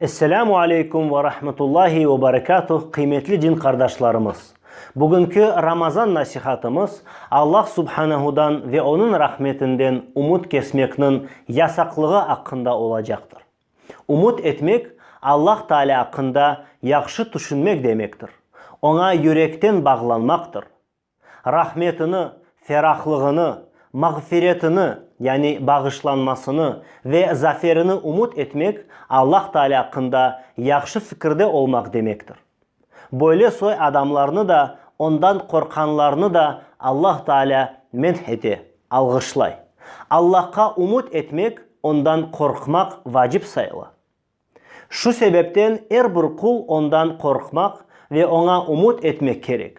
Esselamu aleykum ve rahmetullahi ve berekatuh, qıymetli din qardaşlarımız! Bugünki Ramazan nasihatımız Allah Subhanehudan ve Onıñ rahmetinden umut kesmekniñ yasaqlığı aqqında olacaqtır. Ümüt etmek, Allah Taalâ aqqında yahşı tüşünmek demektir, Oña yürekten bağlanmaqtır. Rahmetini, ferahlığını, mağfiretini, yani bağışlanmasını ve zaferini ümüt etmek, Allah Taalâ aqqında yahşı fikirde olmaq demektir. Böyle soy adamlarnı da, ondan qorqqanlarnı da Allah Taalâ menh ete, alğışlay. Allahqa umut etmek, Ondan qorqmaq vacip sayıla. Şu sebepten er bir qul Ondan qorqmaq ve Oña umut etmek kerek.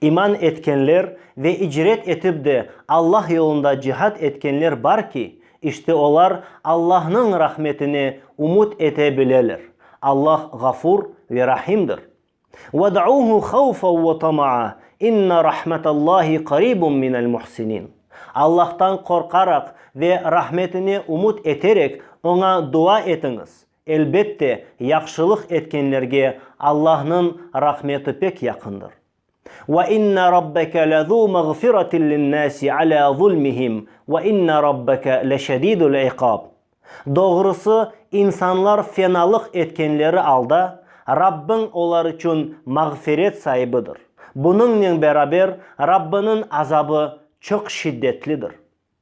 İman etkenler ve icret etip de Allah yolunda cihad etkenler bar ki, işte olar Allahnıñ rahmetine ümüt ete bileler. Allah Ğafur ve Rahimdir. Vad'uhu havfa ve tama'a, inna rahmatallahi qaribun minel muhsinin. Allahtan qorqaraq ve rahmetine ümüt eterek Oña dua etiñiz, Elbette, yahşılıq etkenlerge Allahnıñ rahmeti pek yaqındır. Ve inne Rabbeke lezu mağfiratin linnâsi alâ zulmihim ve inne Rabbeke leşedidul iqab. Doğrusı, insanlar fenalıq etkenleri alda, Rabbiñ olar içün mağfiret saibidir. Bunıñnen beraber, Rabbiniñ azabı çoq şiddetlidir.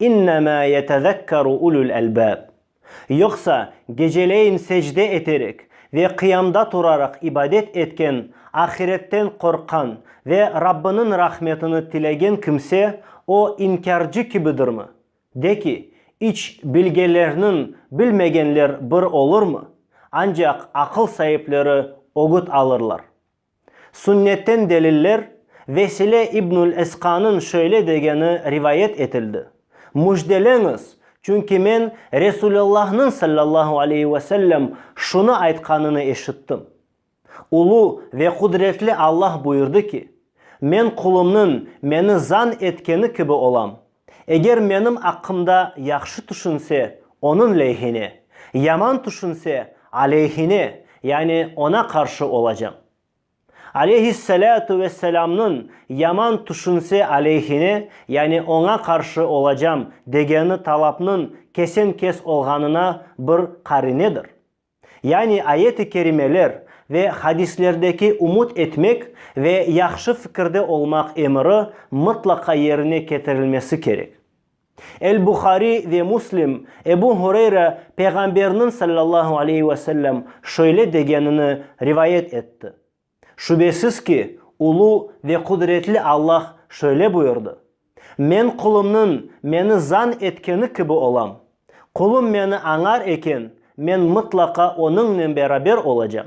İnnemâ yetezekkeru ulul elbâb. Yoqsa, geceleyin secde eterek ve qıyamda turaraq ibadet etken, ahiretten qorqqan ve Rabbınıñ rahmetini tilegen kimse o inkârcı kibidirmi? De ki, İç bilgelerniñ bilmegenler bir olurmı? Ancaq aqıl saipleri ögüt alırlar. Sünnetten deliller, Vesile İbnül Esqanıñ şöyle degeni rivayet etildi, Müjdeleñiz, çünki men Resulallahnıñ sallallahu aleyhi ve sellem şunı aytqanını eşittim, Ulu ve qudretli Allah buyurdı ki, Men qulumnıñ meni zan etkeni kibi olam, Eger menim aqqımda yahşı tüşünse, onıñ leyhine, yaman tüşünse, aleyhine, yani oña qarşı olacam. Aleyhissalâtu vesselâmnıñ yaman tüşünse aleyhine, yani oña qarşı olacam, degeni talapnıñ kesen-kes olğanına bir qarinedir. Yani ayet-i kerimeler ve hadislerdeki umut etmek ve yahşı fikirde olmaq emiri mıtlaqa yerine ketirilmesi kerek. El-Buhariy ve Muslim Ebu Hureyre Peyğamberniñ sallallahu aleyhi ve sellem şöyle degenini rivayet etti, Şübesiz ki, ulu ve qudretli Allah şöyle buyurdı, Men qulımnıñ meni zan etkeni kibi olam. Qulım meni añar eken, men mıtlaqa onıñnen beraber olacam.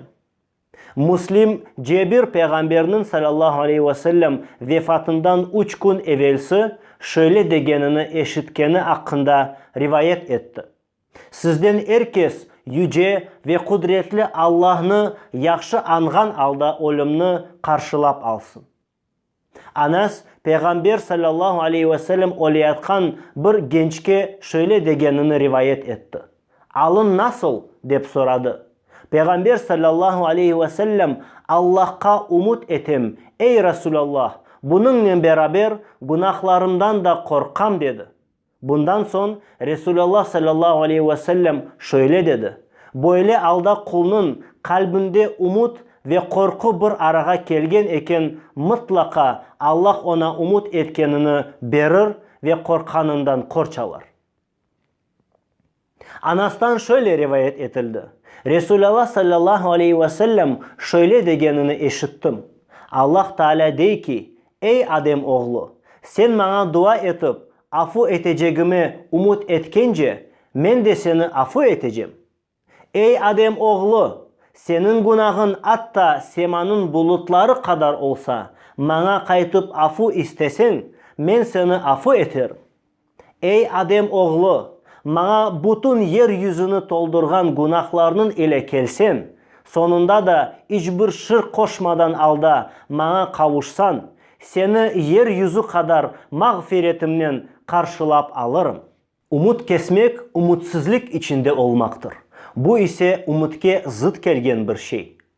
Müslim, Cebir peyğamberniñ salâllahu aleyhi ve sellem vefatından üç kün evelsi şöyle degenini eşitkeni aqqında rivayet etti, Sizden er kes Yüce ve Qudretli Allahnı yahşı añğan alda ölümni qarşılap alsın. Anas Peyğamber salâllahu aleyhi ve sellem öleyatqan bir gençke şöyle degenini rivayet etti, Alın nasıl? dep soradı. Peyğamber salâllahu aleyhi ve sellem, Allahqa umut etem, ey Rasulallah, bunıñnen beraber, günahlarımdan da qorqam, dedi. Bundan soñ Resulallah sallallahu aleyhi ve sellem şöyle dedi, Böyle alda qulnıñ qalbinde umut ve qorqu bir arağa kelgen eken, mıtlaqa Allah oña umut etkenini berir ve qorqqanından qorç alar. Anastan şöyle rivayet etildi, Resûlâlâh sallâllahu aleyhi ve sellem şöyle degenini eşittim, Allah Taalâ dey ki, Ey Adem oğlu! Sen maña dua etip, afu etecegime ümüt etkence, men de seni afu etecem. Ey Adem oğlu! Seniñ günahıñ atta semanıñ bulutları qadar olsa, maña qaytıp afu isteseñ, men seni afu eterim. Ey Adem oğlu, maña bütün yer yüzüni toldurğan günahlarnıñ ile kelsen, soñunda da iç bir şirk qoşmadan alda maña qavuşsan, seni yer yüzü qadar mağfiretimnen qarşılap alırım. Ümüt kesmek ümütsizlik içinde olmaqtır, bu ise ümütke zıt kelgen bir şey.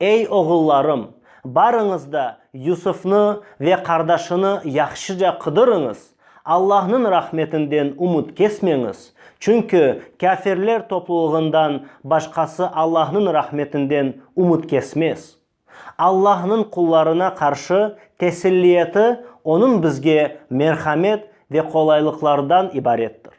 Ey oğullarım, barıñız da Yusufnı ve qardaşını yahşıca qıdırıñız, Allahnıñ rahmetinden ümüt kesmeñiz, çünki kâfirler toplulığından başqası Allahnıñ rahmetinden ümüt kesmez. Allahnıñ qullarına qarşı tesilliyeti Onıñ bizge merhamet ve qolaylıqlardan ibarettir.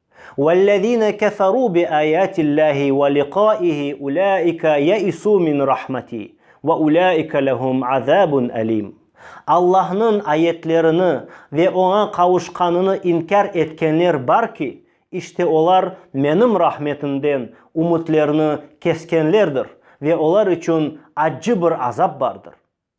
Vellezine keferu bi ayatillahi ve liqaihi ulaike yeisu min rahmeti ve ulaike lehum azabun elim. Allahnıñ ayetlerini ve Oña qavuşqanını inkâr etkenler bar ki, işte olar Menim rahmetimden ümütlerini keskenlerdir ve olar içün accı bir azap bardır.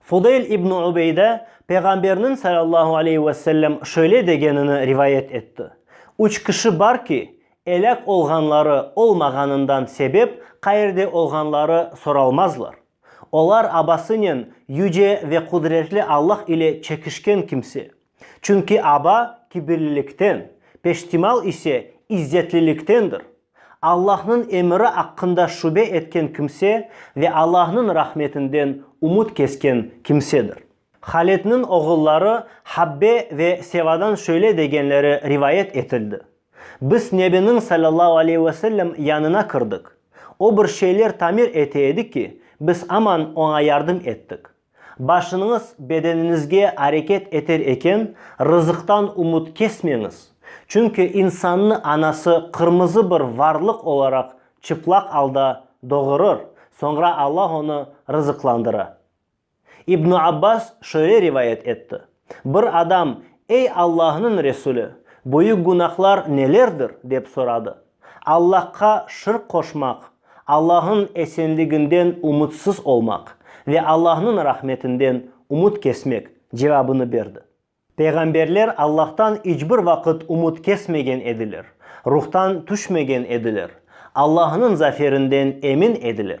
Fudeyl ibn Ubeyda Peyğamberniñ, salâllahu aleyhi ve sellem, şöyle degenini rivayet etti, Üç kişi bar ki, elâk olğanları olmağanından sebep qayerde olğanları soralmazlar. Olar abasınen Yüce ve Qudretli Allah ile çekişken kimse. Çünki aba kibirlilikten, peştimal ise izzetliliktendir. Allahnıñ emiri aqqında şübe etken kimse ve Allahnıñ rahmetinden ümüt kesken kimsedir. Haletniñ oğulları Habbe ve Sevadan şöyle degenleri rivayet etildi, Biz Nebiniñ sallallahu aleyhi ve sellem yanına kirdik. O bir şeyler tamir ete edi ki, biz aman oña yardım ettik. Başınıñız bedeniñizge areket eter eken, rızıqtan umut kesmeñiz, çünki insannı anası qırmızı bir varlıq olaraq çıplaq alda doğurır, soñra Alla onı rızıqlandıra. İbnu Abbas şöyle rivayet etti, Bir adam, Ey Allahnıñ Resuli, büyük günahlar nelerdir? dep soradı. Allahqa şirk qoşmaq, Allahnıñ esenliginden ümütsiz olmaq ve Allahnıñ rahmetinden ümüt kesmek cevabını berdi. Peyğamberler Allahtan iç bir vaqıt ümüt kesmegen ediler, ruhtan tüşmegen ediler, Allahnıñ zaferinden emin ediler.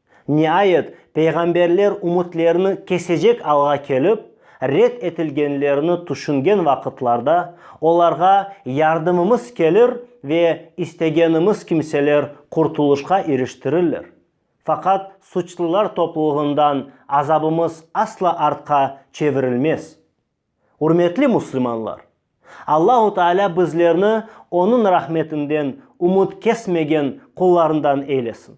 Niayet, peyğamberler ümütlerini kesecek alğa kelip, red etilgenlerini tüşüngen vaqıtlarda, olarğa yardımımız kelir ve istegenimiz kimseler qurtulışqa iriştirirler. Faqat suçlular toplulığından azabımız asla artqa çevirilmez. Ürmetli müslümanlar! Allahu Taalâ bizlerni Onıñ rahmetinden ümüt kesmegen qullarından eylesin!